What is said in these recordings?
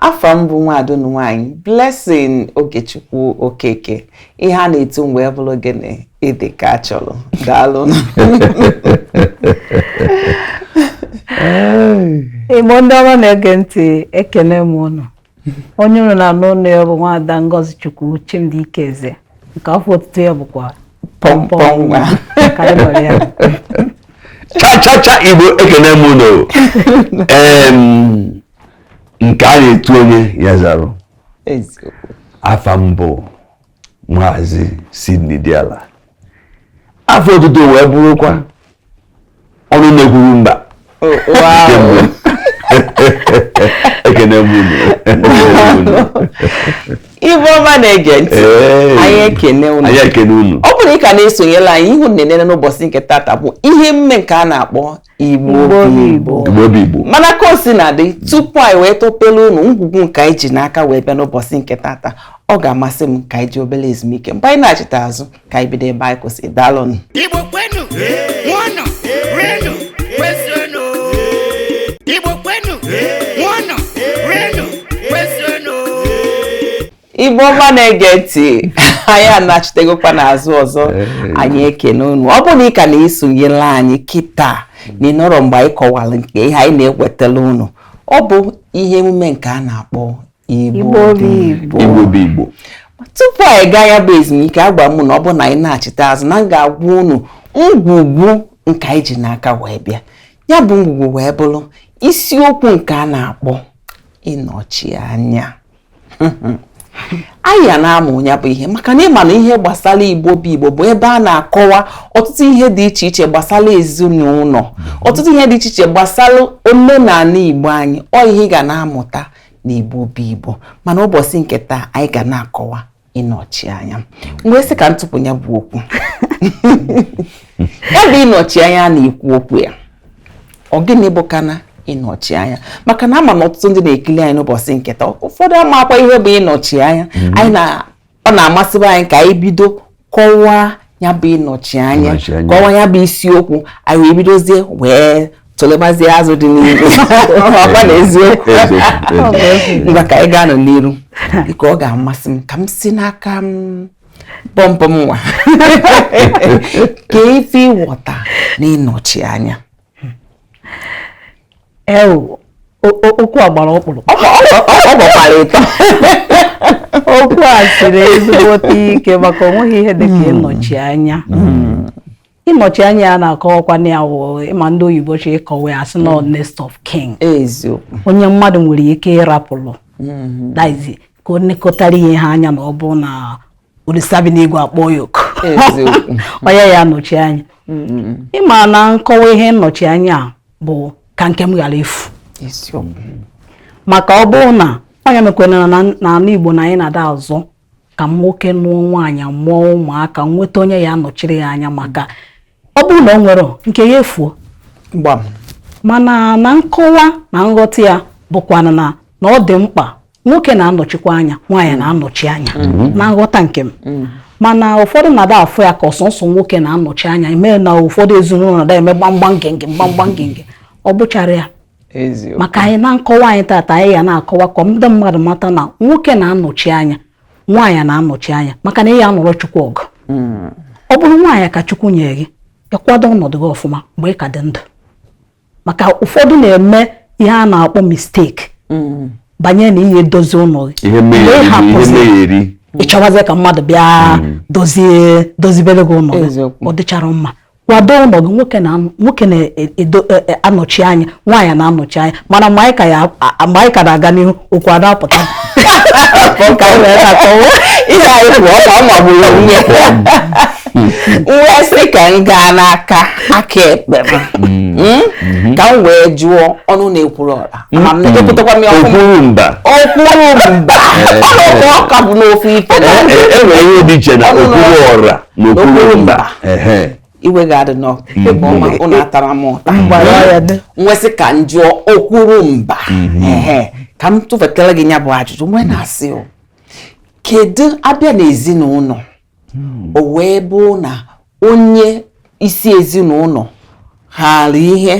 afa m bụ nwaada unu nwaanyị Blessing Ogechukwu Okeke ihe a na-etu m wee bụrụ gịnị ịdị ka a chọrọ daalụ igbo ndị ọma na-ege ntị ekene m unu onye unu na-anụ onu ya bụ nwaada Ngozi Chukwu Chimdi Ikeze nke afa otutu ya bụkwa pọmpọm nwa ka anyị nwere ya cha cha cha igbo ekene m unu nke a na-etu onye ya zara afa m bụ maazị Sidney Diala afa otutu m wee bụrụkwa ọnụ na-ekwuru mba oh, ekene m unu igbo ọma na-ege ntị anyị ekene unu ọ bụrụ na ị ka na-esonyela anyị ihu nnenene n'ụbọchị nke tata bụ ihe emume nke a na-akpọ igbo bụ igbo igbo bụ igbo mana ka o si na dị tupu anyị wee topelu unu ngwugwu nke anyị ji n'aka wee bịa n'ụbọchị nke tata ọ ga-amasị m ka anyị jee obere ezumike mgbe anyị nachita azụ ka anyị bido ebe anyị kwụsị daalụnụ Igbo kwenu, nwụọnụ, rienụ, kwezuonụ. Igbo kwenu, nwụọnụ, rienụ, kwezuonụ. igbo ọma na-ege ntị anyị anachitegokwa n'azụ ọzọ anyị ekene unu ọ bụrụ na ị ka na-esonyere anyị kịta na ị nọrọ mgbe anyị kọwara nke ihe anyị na-ewetara unu ọ bụ ihe emume nke a na-akpọ igbo bụ igbo tupu anyị gaa ya bụ ezumike agwa m unu ọ bụ na anyị nachite azụ na m ga-agwa unu ngwugwu nke anyị ji n'aka wee bịa ya bụ ngwugwu wee bụrụ isiokwu nke a na-akpọ ịnọchi anya anyị ya na-amụ ya bụ ihe maka na ị ma na ihe gbasara igbo bụ igbo bụ ebe a na-akọwa ọtụtụ ihe dị iche iche gbasara ezinụlọ ọtụtụ ihe dị iche iche gbasara omenala igbo anyị ọ ihe ị ga na-amụta na igbo bụ igbo mana ụbọchị nke taa anyị ga na-akọwa ịnọchi anya m wee sị ka m tụpụ ya bụ okwu ya bụ ịnọchi anya a na-ekwu okwu ya ọ gịnị bụkwanụ ịnọchi anya maka na ama m na ọtụtụ ndị na-ekili anyị n'ụbọchị nke taa ụfọdụ amakwa ihe bụ ịnọchi anya mm-hmm. anyị na ọ na-amasịba anyị ka anyị bido kọwaa ya bụ ịnọchi anya kọwa ya bụ isiokwu anyị wee bidozie wee tụlebazie azụ dị n'ime ọkwa na eziokwu ngwa ka anyị gaanụ n'iru dịka ọ ga-amasị m ka m si n'aka pọmpọm nwa kee ife ị ghọta na ịnọchi anya okwu a gbara ọkpụrụkpụ ọ gbakwara ịtọ okwu a siri ezigbote ike maka onweghị ihe dị ka ịnọchi anya ịnọchi anya ya na-akọwakwa na ya wụ ị ma ndị oyibo chọọ ịkọwa ya sị na next of kin onye mmadụ nwere ike ịrapụrụ mm-hmm. ka o nekọtara ihe ha anya na ọ bụ na olisa bi n'igwe akpọọ ya oku Eziokwu. onye ya-anọchi anya ị ma na nkọwa ihe nnọchi anya a bụ ka nke m ghara efu Isiokwu. maka ọ bụrụ na onye mekwere na n'ala igbo na anyị na-ada azọ ka nwoke nụọ nwaanyị mụọ ụmụaka nweta onye ya-anọchiri ya anya maka ọ bụrụ na o nwere nke ya efuo Gbam. mana na nkọwa na nghọta ya bụkwana na na ọ dị mkpa nwoke na-anọchikwa anya nwaanyị mm. na-anọchi anya mm-hmm. na nghọta nke m mm. mana ụfọdụ na-ada afụ ya ka ọ sọsọ nwoke na-anọchi anya mee na ụfọdụ ezinụlọ na-ada eme gbamgbam ngenge gbamgbam ngenge ọ bụchara ya maka anyị na nkọwa anyị tata anyị ya na-akọwa ka ndị mmadụ mata na nwoke na-anọchi anya nwaanyị na-anọchi anya maka na ị ya-anụrụ chukwu ọgụ mm. ọ bụrụ nwaanyị ka chukwu nyere gị ị kwado ọnọdụ gị ọfụma mgbe ị ka dị ndụ maka ụfọdụ na-eme ihe a na-akpọ mistake mm. banye na ihe dozi ụlọ gị mgbe ị chọwazie ka mmadụ bịa mm. dozie dozibere gị ụlọ gị ọ dịchara mma kwado ụlọ gị nwoke na nwoke na-anọchi e, e, e, anya nwaanyị na-anọchi anya mana mgbe anyị ka na-aga n'ihu okwu ada apụta ka anyị wee na-akọwa ihe anyị kwuo ọ ma gburu nwunye wee sị ka m gaa n'aka aka ekpe m mm. Hmm? Mm-hmm. ka m wee jụọ ọnụ na-ekwuru ọra ma m na-ekwutekwa m ya okwuru mba okwuru mba ọnụ ọka bụ n'ofu ife e nwere ihe dị iche na okwuru ọra na okwuru mba iwe ga-adị n'ọkụ mm-hmm. ibe ọma unu atala m ụta m wee sị ka m jụọ okwuru mba mm-hmm. ka m tụfetara gị ya bụ ajụjụ m wee na-asị o kedu a bịa n'ezinụlọ hmm. o wee bụ na onye isi ezinụlọ haara ihe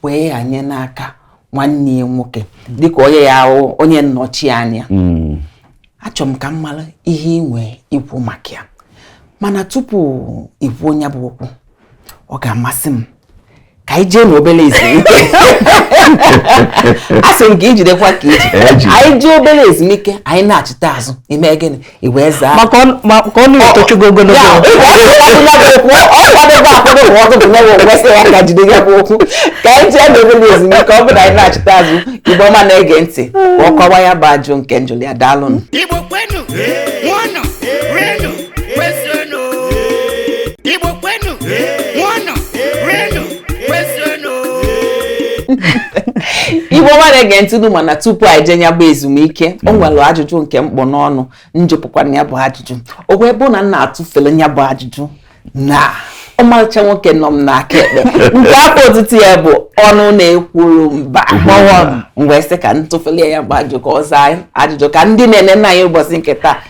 wee ghanye n'aka nwanne ya nwoke hmm. dịka onye ya-abụ onye nnọchi anya hmm. achọrọ m ka m mara ihe i nwee ikwu maka ya mana tupu i kwuo nya bụ okwu ọ ga-amasị m ka anyị jee n'obere ezumike a sị m ka i jidekwa ka i ji e anyị jee obere ezumike anyị nachita azụ i mee gịnị i wee zaa maka ọnụ etochugo ogologo ọ kwadebe akwado bụ ọkụ bụ nyewe kwesị ya ka o jide ya bụ okwu ka anyị jee n'obere ezumike ọ bụrụ anyị nachita azụ ibe ọma na-ege ntị ka ọ kọwa ya bụ ajụjụ nke m jụlụ ya daalụnụ kwezuenu igbo kwenu ṅụọnụ rienu kwezuenu igbo ọma na-ege ntị unu ma na tupu anyị jee nya bụ ezumike o nwere ajụjụ nke m kpụ n'ọnụ m jụpụkwanụ ya bụ ajụjụ o wee bụ na m na-atụfere ya bụ ajụjụ na ọmarịcha nwoke nọ m n'aka ekpe nke afa otutu ya bụ ọnụ na-ekwuru mba mgbawa m wee sị ka m tụfere ya bụ ajụjụ ka ọ zaa ajụjụ ka ndị na-ene nna anyị ụbọchị nke taa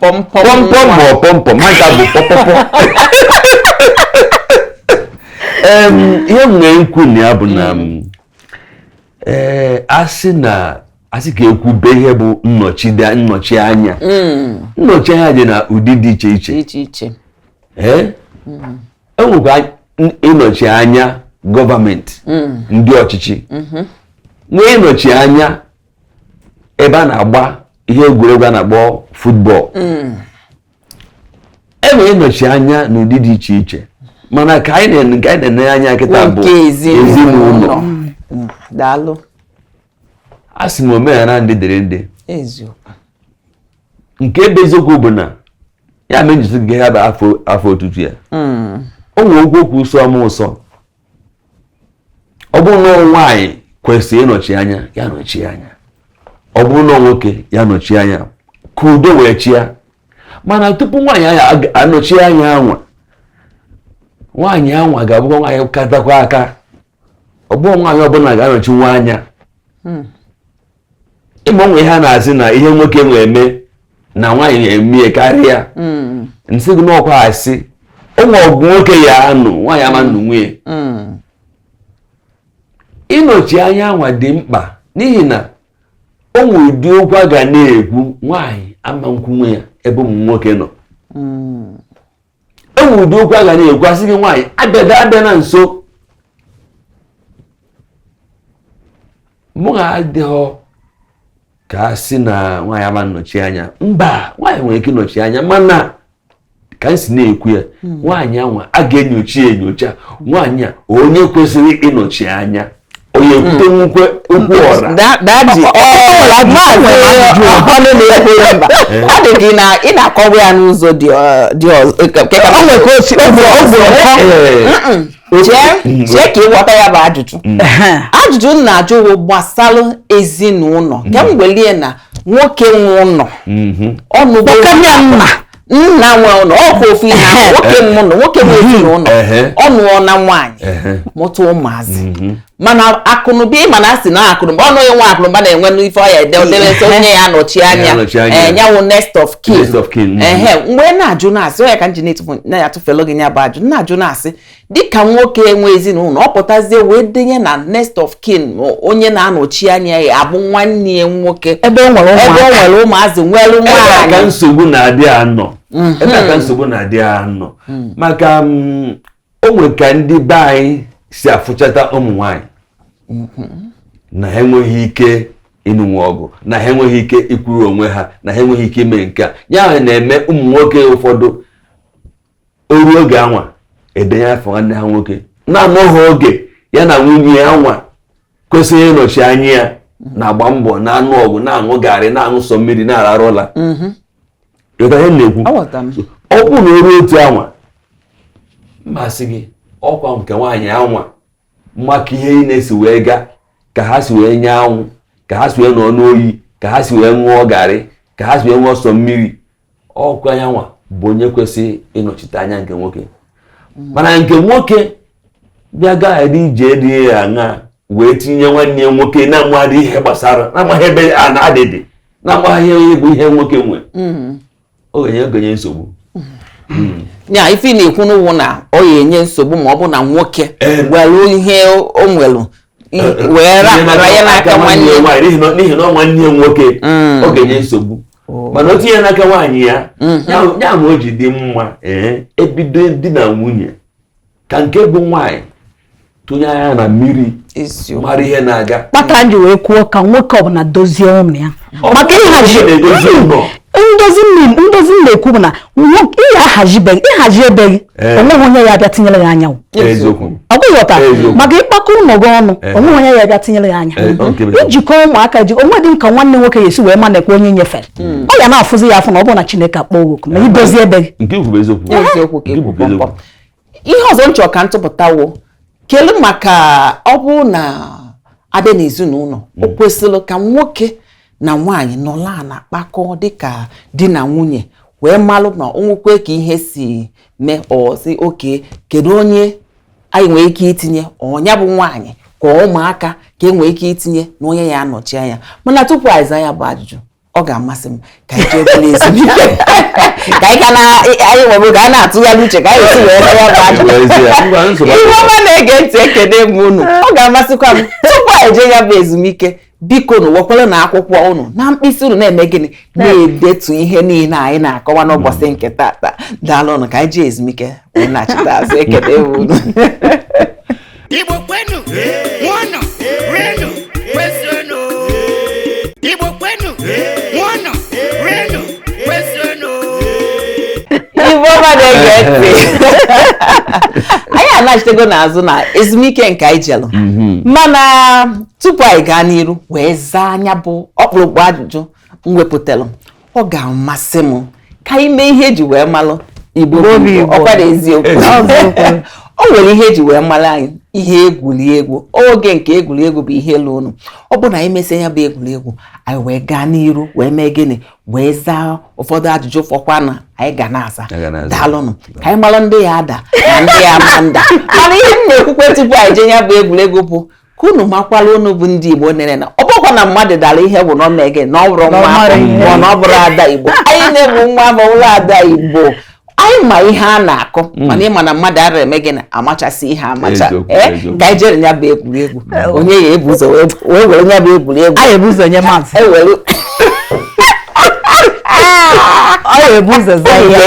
pọmpọm pọmpọm ma ọ pọmpọm ha nka bụ pọpọpọ Em, ihe m nwere ikwu na ya bụ na m, ee, a sị na a sị ka e kwube ihe bụ nnọchide nnọchi anya nnọchi anya dị na ụdị dị iche iche dị iche iche ee e nwekwa n- ịnọchi anya gọọmenti ndị ọchịchị nwee ịnọchi anya ebe a na-agba ihe egwuregwu a na-akpọ football mm. e nwere ịnọchi anya n'ụdị dị iche iche mana nke anyị na-ene anya kịta bụ ezinụlọ mm. daalụ asị m omenala ndị dịrị ndị nke ebe eziokwu bụ na ya mee m ji sị gị ha bụ afa otutu ya o nwe mm. okwu okwu sọọ m ụsọ ọ bụrụ na nwaanyị kwesịrị ịnọchi anya ya nọchi anya ọ bụrụ na nwoke ya nọchi anya ka udo wee chịa mana tupu nwaanyị ya-anọchi anya anwa nwaanyị anwa ga-abụkwa nwaanyị katakwa aka ọ bụrọ nwaanyị ọbụla ga-anọchinwu anya hmm. ị ma o nwe ihe a na-asị na ihe nwoke nwee eme na nwaanyị na-eme ya karịa hmm. m sị gị n'okwu asị o nwe ọgụ nwoke ya-anụ nwaanyị ama nnụnwu ya hmm. ịnọchi anya anwa dị mkpa n'ihi na o nwere ụdị okwu a ga na-ekwu nwaanyị ama nkwunwu ya ebe ụmụ nwoke nọ hmm. e nwere ụdị okwu a ga na-ekwu a sị gị nwaanyị abịada abịa na nso mụ ga adịghọ ka a sị na nwaanyị ama nnọchi anya mba nwaanyị nwere ike ịnọchi anya mana ka m si na-ekwu ya hmm. nwaanyị anwa a ga-enyocha enyocha nwaanyị a onye kwesịrị ịnọchi anya onye kwute nnukwu okwu alright daddy ọ dị gị na ị na-akọwa ya n'ụzọ dị iche ka ị ghọta ya bụ ajụjụ mm. ajụjụ m na-ajụ bụ gbasara ezinụlọ ka m kwelie na nwoke nwe ụlọ mm-hmm. ọnụgbo nna nwe ụlọ ọkwa ofu ihe ahụ nwoke m nọ nwoke m ezinụlọ ọ nụọna nwaanyị mụta ụmụazị mhm. mana akụnụba ị ma na a sị na akụnụba ọnụ onye nwe akụnụba na-enwenụ ife ọ ya-ede odeleta onye ya-anọchi anya ya wụ eh, next of kin ehe mhm. wee na-ajụ na-asị ọ ya ka m ji na-atụfelụ gị ya bụ ajụ na-ajụ na-asị dịka nwoke enwe ezinụlọ ọ pụtazie wee denye na next of kin onye na-anọchi anya ya abụ nwanne ya nwoke ebe ọ nwere ụmụazị nwere nwaanyị ka nsogbu na-adị nnọọ mhm. ebe ka nsogbu na-adị nnọọ mhm. maka mm, o nwe ka ndị be anyị si afụchata ụmụ nwaanyị mhm. na ha enweghị ike ịnụnwu ọgụ na ha enweghị ike ikwuru onwe ha na ha enweghị ike ime nke a ya na-eme ụmụ nwoke ụfọdụ o ruo oge anwa e denye afa nwanne ha nwoke na-anọghị oge ya na nwunye ya nwa kwesịrị ịnọchi anya ya na-agba mbọ na-anụ ọgụ na-aṅụ garị na-aṅụ sọ mmiri na-ararụ ụla mhm. na-ekwu ọ bụrụ na o ruo otu anwa m asị gị ọkwa nke nwaanyị anwa ma ka ihe niine si wee gaa ka ha si wee nyaa anwụ ka ha si wee nọ n'oyi ka ha si wee ṅụọ garị ka ha si wee ṅụọ sọ mmiri ọkwa nya nwa bụ onye kwesịrị ịnọchite anya nke nwoke mana nke nwoke bịa gaa edi ije dị ya aṅa wee tinye nwanne ya nwoke na-amaghị ihe gbasara na-amaghị ebe a na-adịdị na-amaghị ihe bụ ihe nwoke nwe mm-hmm. ọ ga-enye ọ ga-enye nsogbu mm-hmm. ya ife ị na-ekwunụ wụ na ọ ya-enye nsogbu ma ọ bụ na nwoke eh. were ihe o nwere eh, eh. wee rapụrụ ya n'aka nwanne ya n'ihi na ọ nwanne ya nwoke mm. ọ ga-enye nsogbu oh. mana o tinye n'aka nwaanyị ya mm. ya mere o ji dị mma ee e bido di na nwunye ka nke bụ nwaanyị tụnye anya na mmiri mara ihe na-aga kpatara m ji wee kwuo ka nwoke ọbụla dozie ụmụ ya maka ịhazi ndozi m na-ekwu bụ na ị ya-ahazi be gị ịhazi be gị eh. o nweghị onye ya-abịa tinyere ya anya ọgwụghọta maka ịkpakọ ụlọ gị ọnụ eh. o nweghị onye ya-abịa tinyere ya anya eh, ijikọ ụmụaka gị onwe dịka nwanne nwoke ya esi wee ma na-ekwe onye nyefere hmm. ọ ya na-afụzi ya afụ na ọ bụrụ na Chineke akpọ oku ma i dozie be gị ihe ọzọ m chọrọ ka m tụpụtawo kelu maka ọ bụ na a bịa n'ezinụlọ o mm. kwesịrị ka nwoke na nwaanyị nọlụ ana kpakọ dịka di na nwunye wee malụ na o nwekwee ka ihe si mee ọ sị okay kedu onye anyị nwere ike itinye ọ nya bụ nwaanyị ka ụmụaka ka e nwee ike itinye na onye ya-anọchi anya mana tupu ị zaa ya bụ ajụjụ ọ ga-amasị m ka anyị jee obere ezumike ka anyị ka na anyị were oge a na-atụgharị uche ka anyị si wee rịọ ya bụ ajụjụ Igbo ọma na-ege ntị ekene m unu ọ ga-amasịkwa m tupu anyị jee ya bụ ezumike bikonụ wekwaranụ akwụkwọ ụnụ na mkpịsị ụnụ na-eme gịnị na-edetu ihe niile anyị na-akọwa n'ụbọchị nke tata daalụ ụnụ ka anyị jee ezumike wee nachita azụ ekene m unu Igbo kwenu ṅụọnụ rienụ kwezuonụ Igbo kwenu ṅụọnụ rienụ kwezuonụ Igbo ọma na-ege ntị anyị anachitego n'azụ na ezumike nke anyị jelụ mhm. mana tupu anyị gaa n'iru wee zaa nya bụ ọkpụrụkpụ ajụjụ m wepụtalụ ọ ga-amasị m ka anyị mee ihe eji wee malụ igbo ọ kwa eziokwu o nwere ihe eji wee mara anyị ihe egwuregwu oge nke egwuregwu bụ ihe elu ụnụ ọ bụ na anyị mesịa ya bụ egwuregwu anyị wee gaa n'iru wee mee gịnị wee zaa ụfọdụ ajụjụ fọkwa na anyị ga na-aza daalụnụ ka anyị mara ndị ya ada na ndị ya ama nda mana ihe m na-ekwukwa tupu anyị jee ya bụ egwuregwu bụ ka unu makwara unu bụ ndị Igbo nere na ọ bụkwa na mmadụ dara ihe bụ na ọ mee gịnị na ọ bụrụ nwa ma na ọ bụrụ ada Igbo anyị nine bụ nwa ma bụrụ ada Igbo anyị ma ihe a na-akọ hmm. mana ị ma na mmadụ ara eme gịnị amachasị ihe amacha eh, ka anyị jere ya bụ egwuregwu hmm. onye ya ebu ụzọ wee were ya bụ egwuregwu anyị ebu ụzọ nye maazị e ọ ya ebu ụzọ za ya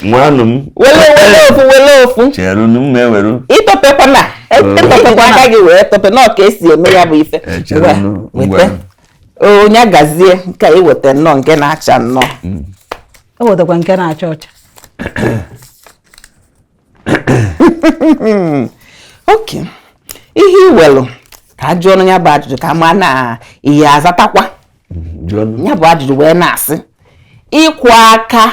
ngwanụ wele wele ofu wele ofu cheru m weru ịtọpekwana ịtọpekwa aka gị wee tọpe na ọ ka e si eme ya bụ ife weta onye gazie nke i weta nnọọ nke na-acha nnọọ ewetakwa nke na-acha ọcha ok ihe i welu ka a jụọ ya bụ ajụjụ ka m ma na ị ya-azatakwa ya bụ ajụjụ wee na-asị ịkwọ aka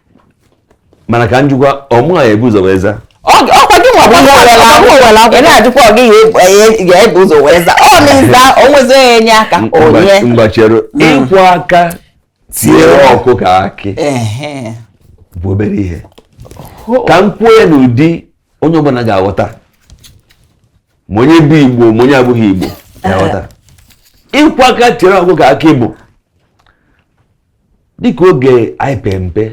mana ka m jụkwa ọ mụwa ya-ebu ụzọ wee zaa ọ kwa gịnwa ị na-ajụkwa ọ gị ga-ebu ụzọ wee zaa ọ na-aza o nwezi onye enye aka onye ngwa chere hmm. ịkwọ aka tiere ọkụkọ akị bụ obere ihe ka m kwuo ya n'ụdị onye ọbụla ga-aghọta ma onye bụ igbo ma onye abụghị igbo ga-aghọta ịkwọ aka tiere ọkụkọ akị bụ dịka oge anyị pee mpe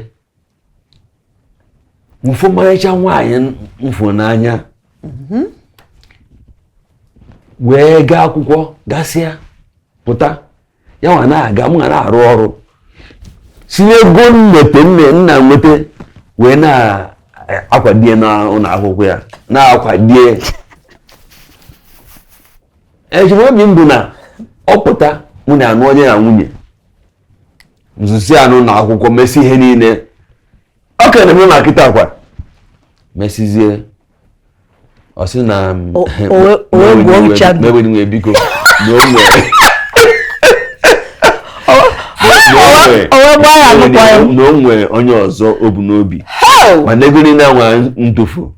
m fụ ọmarịcha nwaanyị m fụ n'anya mhm. wee gaa akwụkwọ gasịa pụta ya nwa na-aga mụ nwa na-arụ ọrụ si n'ego nweta nne nna nweta wee na-akwado ya n'ụlọ akwụkwọ ya na-akwado ya echiche obi m bụ na ọ pụta mụ nwa anụọ ya na nwunye m zụsịanụ na akwụkwọ mesịa ihe niile o kenee m na kịta kwa mesizie ọ sị na m ewena iwe biko na o nwere na o nwere onye ọzọ o bu n'obi ma negoro na-enwe ndofu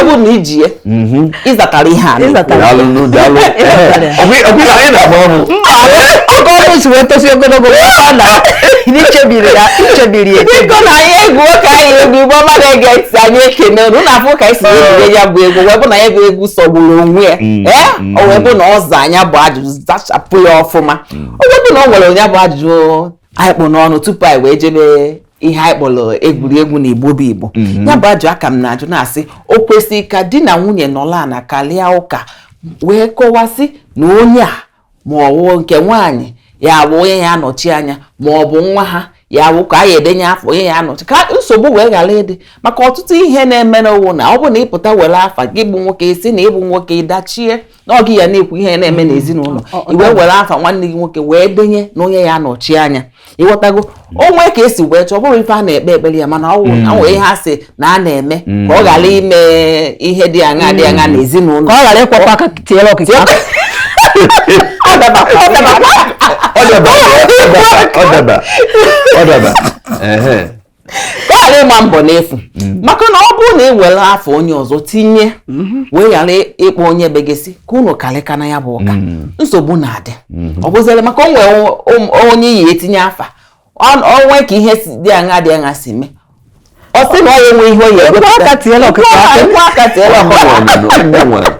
ọ bụ na iji ya mhm. ịzatara ihe a ọkọọnụ si wee tosi ogologo na ichebiri ya ichebiri ya biko na anyị egwu ka anyị egwu igbo ọma na-ege ntị anyị ekene unu na-afụ ka anyị si ejide ya bụ egwu wee bụ na ya bụ egwu sọgburu onwe ya mm, ee mm. o wee bụ na ọ zaa ya bụ ajụjụ zachapụ ya ọfụma mm. o wee bụ na ọ nwere onye bụ ajụjụ anyị kpụ n'ọnụ tupu anyị wee jebe ihe anyị kpọrọ egwuregwu na igbo bụ igbo mhm. ya bụ ajụ a ka m na-ajụ na-asị o kwesịrị ka di na nwunye nọlọ ana karịa ụka wee kọwasị na onye a ma ọ wụ nke nwaanyị ya-abụ onye ya-anọchi anya ma ọ bụ nwa ha ya bụ ka a ya-edenye afa onye ya-anọchi ka nsogbu wee ghara ịdị maka ọtụtụ ihe na-eme n'ụwa na ọ bụ na ị pụta were afa gị bụ nwoke ị sị na ị bụ nwoke ị dachie na ọ gị ya na-ekwu ihe ya na-eme n'ezinụlọ i wee were afa nwanne gị nwoke wee denye na onye ya-anọchi anya ị ghọtago o nwee ka e si wee chọọ ọ bụrọ ife a na-ekpe ekpere ya mana ọ nwere mm. ihe a sị na a na-eme mm. ka ọ ghara ime ihe dị aṅa dị aṅa mm. n'ezinụlọ ka ọ ghara ịkwọkwa aka tiere ọkụkọ akị ọ daba ọ daba ọ daba ka ọ ghara ịgba mbọ n'efu mm. maka na ọ bụrụ na ị were afa onye ọzọ tinye mm-hmm. wee ghara ịkpọ onye be gị sị ka unu karịkọọ na ya bụ ụka mm. nsogbu na-adị mm-hmm. ọ bụzịrị maka o nwere um, onye ị ya-etinye afa o nwee ka ihe dị aṅa dị aṅa si mee ọ sị na ọ ya-enwe ihe o ya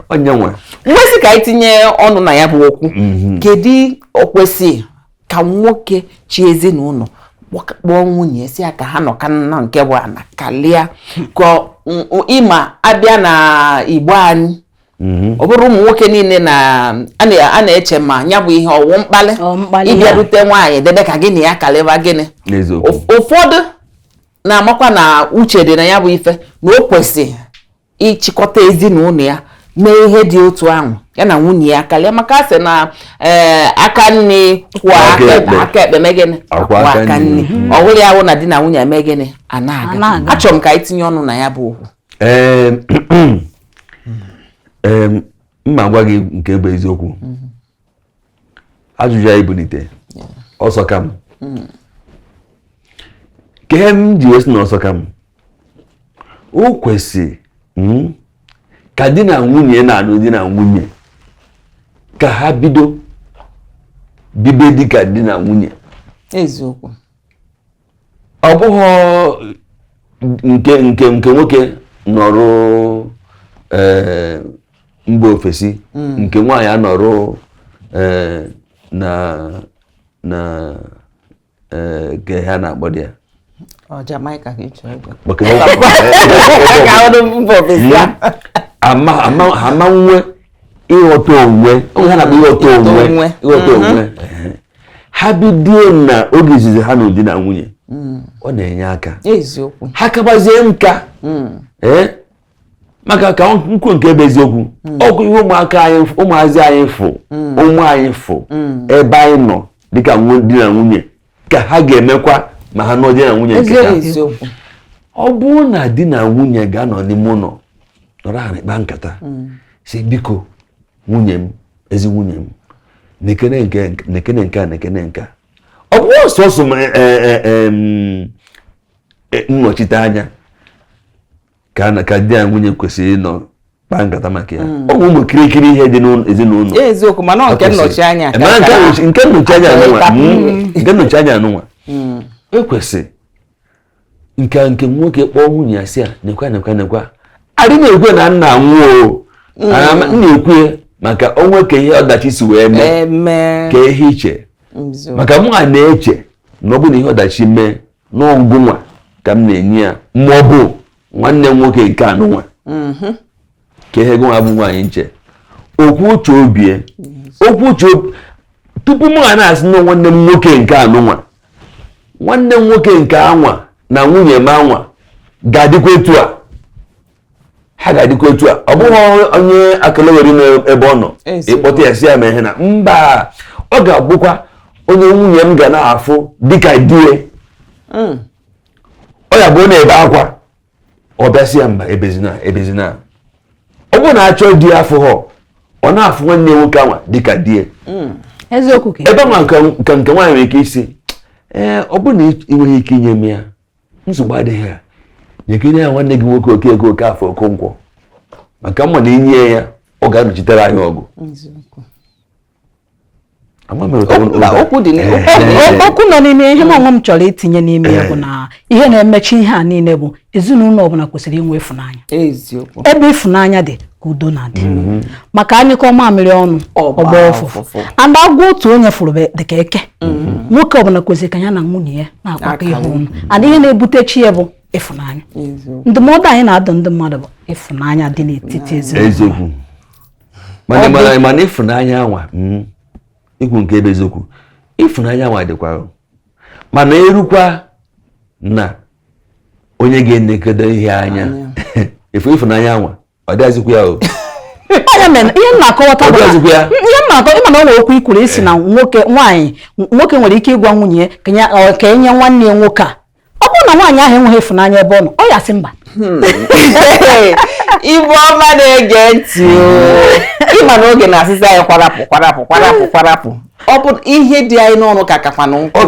onye nwere nwesị ka anyị tinye ọnụ na ya bụ okwu mm-hmm. kedu o kwesị ka nwoke chị ezinụlọ kpọọ nwunye sị ya ka ha nọkọọ na nke bụ ana kalịa ka ị ma a bịa na igbo anyị Mm-hmm. ọ bụrọ ụmụ nwoke niile na a na-eche ma ya bụ ihe ọ wụ mkpali ịbịa dute nwaanyị debe ka gị na ya kalịba gịnị ụfọdụ na-amakwa na uche dị na ya bụ ife na o kwesị ịchịkọta ezinụlọ ya mee ihe dị otu ahụ ya na nwunye ya karịa maka a sị na eh, aka nni kwọọ aka ekpe mee gịnị kwọọ aka nni ọ bụrụ ya wụ na di na nwunye eme gịnị a na-aga achọrọ m ka anyị tinye ọnụ na ya bụ okwu ma m gwa gị nke bụ eziokwu ajụjụ a ị bunite ọ sọka m hmm. ka ihe m ji wee sị na ọ sọka m o kwesị hmm, ka di na nwunye na-alụ di na nwunye ka ha bido bibe dịka di na nwunye eziokwu ọ bụghị nke nke nke nwoke nọrụ eh, mba ofesi hmm. nke nwaanyị anọrụ eh, na na eh, nke ha na-akpọ di ya Jamaica ka ịchọ ego ama enwe ịghọta onwe onwe ha na-akpọ ịghọta onwe ịghọta onwe ha bidie na oge izizi ha nụ di na nwunye hmm. ọ na-enye aka ha kabazie nka hmm. eh? maka ka m kwuo nke bụ eziokwu hmm. ọ bụ ihe ụmụaka anyị ụmụazị anyị fụ ụmụ anyị fụ ebe anyị nọ dịka di na nwunye ka ha ga-emekwa ma ha nụ di na nwunye nke ha ọ bụrụ na di na nwunye ga-anọ n'ime ụlọ nọrọ na-akpa nkata sị biko nwunye m ezi nwunye m nekene nke nekene nke a nekene nke a ọ bụ sọsọ m e, e, e, nnọchite anya ka na ka di ya nwunye kwesịrị ịnọ kpaa nkata maka ya hmm. ọ bụ ụmụ kirikiri ihe dị n'ezinụlọ eziokwu mana nke nnọchi anya nke nnọchi anya anụnwa hmm. nke nnọchi anya anụnwa hmm. o kwesị nke a nke nwoke kpọọ nwunye ya sị ya nekwa nekwa nekwa adị na-ekwu na nna nwụọ mm. na-ekwu maka o nwee ka ihe ọdachi si wee mee ka ihe i che maka mụwa na-eche na ọ bụ na ihe ọdachi mee na ọ gịnwa ka m na-enye ya ma ọ bụ nwanne m nwoke nke anụnwa mm-hmm. ka ihe gị nwa bụ nwaanyị na-eche okwu uche obie okwu uche tupu m ga na-asị na nwanne m nwoke nke anụnwa nwanne m nwoke nke anwa na nwunye m anwa ga-adịkwa etu a ha ga-adịkwa etu a ọ bụghị onye akelewere n'ebe ọ nọ ị kpọta ya sị ya mee ihe na mba ọ ga-abụkwa onye nwunye m ga na-afụ dịka die mm. ọ ya bụ na-ebe akwa ọ bịa sị ya mba ebezina ebezina ọ bụrụ na achọ di ye afụhọ ọ na-afụ nwanne nwoke anwa dịka di ye hmm. eziokwu ebe nwa nke nke nwaanyị nwere ike ịsị ee ọ bụrụ na ị nweghị ike inye m ya nsogbu adịghị ya nyekene ya nwanne gị nwoke Okeke Okafọ Okonkwo maka m ma na inye ya ọ ga-anọchitere anyị ọgụ okwu nọ n'ime ihe nwa m chọrọ itinye n'ime ya bụ na ihe na-emechi ihe a niile bụ ezinụlọ ọbụla kwesịrị inwe ịfụnanya ebe ịfụnanya dị ka udo na-adị mm-hmm. maka anyụkọọ mamịrị ọnụ ọ gbaa ụfụfụ and agwọ otu onye fụrụ dịka eke mm-hmm. nwoke ọbụla kwesịrị ka ya na nwunye ya na-akpakọ ihe ọnụ and ihe na-ebutecha ya bụ ịfụnanya ndụmọdụ anyị na-adụ ndị mmadụ bụ ịfụnanya dị n'etiti ezinụlọ mana mara mana ịfụnanya anwa mm, ikwuru nke bụ eziokwu ịfụnanya anwa dịkwa mana erukwa na onye ga-enekedo ihe anya efu ịfụnanya anwa ọ dịghazikwa ya o ihe m na-akọwata bụ ihe m na-akọ ịma na ọ nwere okwu ikwuru ịsị na nwoke nwaanyị nwoke nwere ike ịgwa nwunye ka enye nwanne ya nwoke a ọ bụrụ na nwaanyị ahụ enweghị ịfụnanya ebe ọ nọ ọ ya-asị mba hmm. ibe ọma na-ege ntị ịma na oge na-asịzi anyị kwarapụ kwarapụ kwarapụ kwarapụ ọ bụ ihe dị anyị n'ọnụ ka kakwanụ nkụ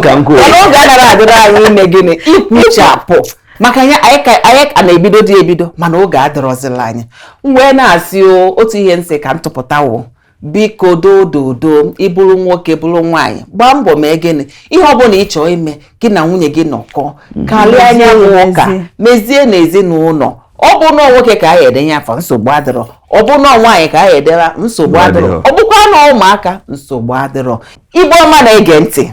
mana oge anaghị adịrị anyị ime gịnị ikwuchapụ maka ya anyị ka na-ebido dị ebido mana oge adịrọzila anyị wee na-asị otu ihe m sị ka m tụpụta o biko dododo ịbụrụ nwoke bụrụ nwaanyị gbaa mbọ mee gịnị ihe ọ bụla ị chọọ ime gị na nwunye gị nọkọ mhm. karịa ya n'ụka mezie n'ezinụlọ ọ bụ na nwoke ka a ya-edenye afa nsogbu adịrọ ọ bụ na nwaanyị ka a ya-edere nsogbu adịrọ ọ bụkwa na ụmụaka nsogbu adịrọ ibe ọma na-ege ntị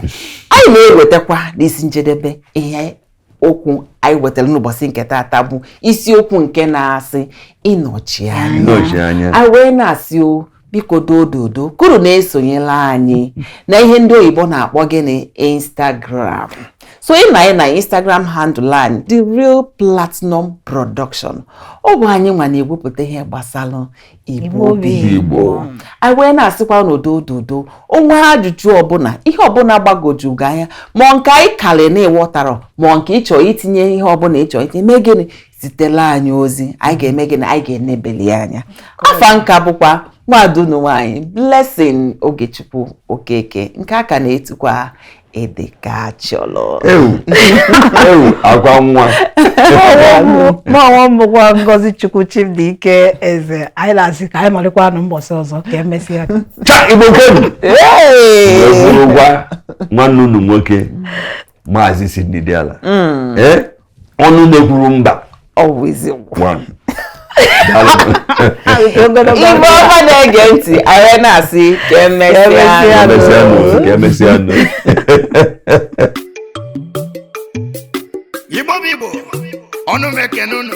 anyị na-ewetakwa n'isi njedebe ihe okwu anyị wetara n'ụbọchị nke taata bụ isiokwu nke na-asị ịnọchi anya anyị wee na-asị o biko dododo kuru na-esonyela anyị na ihe ndị oyibo na-akpọ gịnị Instagram so ị na na Instagram handle anyị the real platinum production ọ bụ anyị nwa na-ewepụta ihe gbasara Igbo bụ Igbo anyị wee na-asịkwanụ dododo ọ nwee ajụjụ ọbụla ihe ọbụla gbagwoju gị anya ma nke anyị karị na ị wọtarọ ma nke ịchọ itinye ihe ọbụla ịchọ itinye mee gịnị zitela anyị ozi anyị ga-eme gịnị anyị ga-enebeli anya afa m ka bụkwa nwada unu nwaanyị Blessing Ogechukwu Okeke nke a ka na-etukwa ede ka achọrọ ewu agwa nwa ma onwe m bụkwa ngozi chukwu chimdịike eze anyị na-asị ka anyị malịkwanụ mbọsị ọzọ ka emesịa cha igbo kwenu gwa nwanne unu nwoke maazị sidney diala mm. eh? ọnụ na-ekwuru mba igbo ọha na-ege ntị anyị na-asị ka emesịanụ igbo bụ igbo ana m ekene unu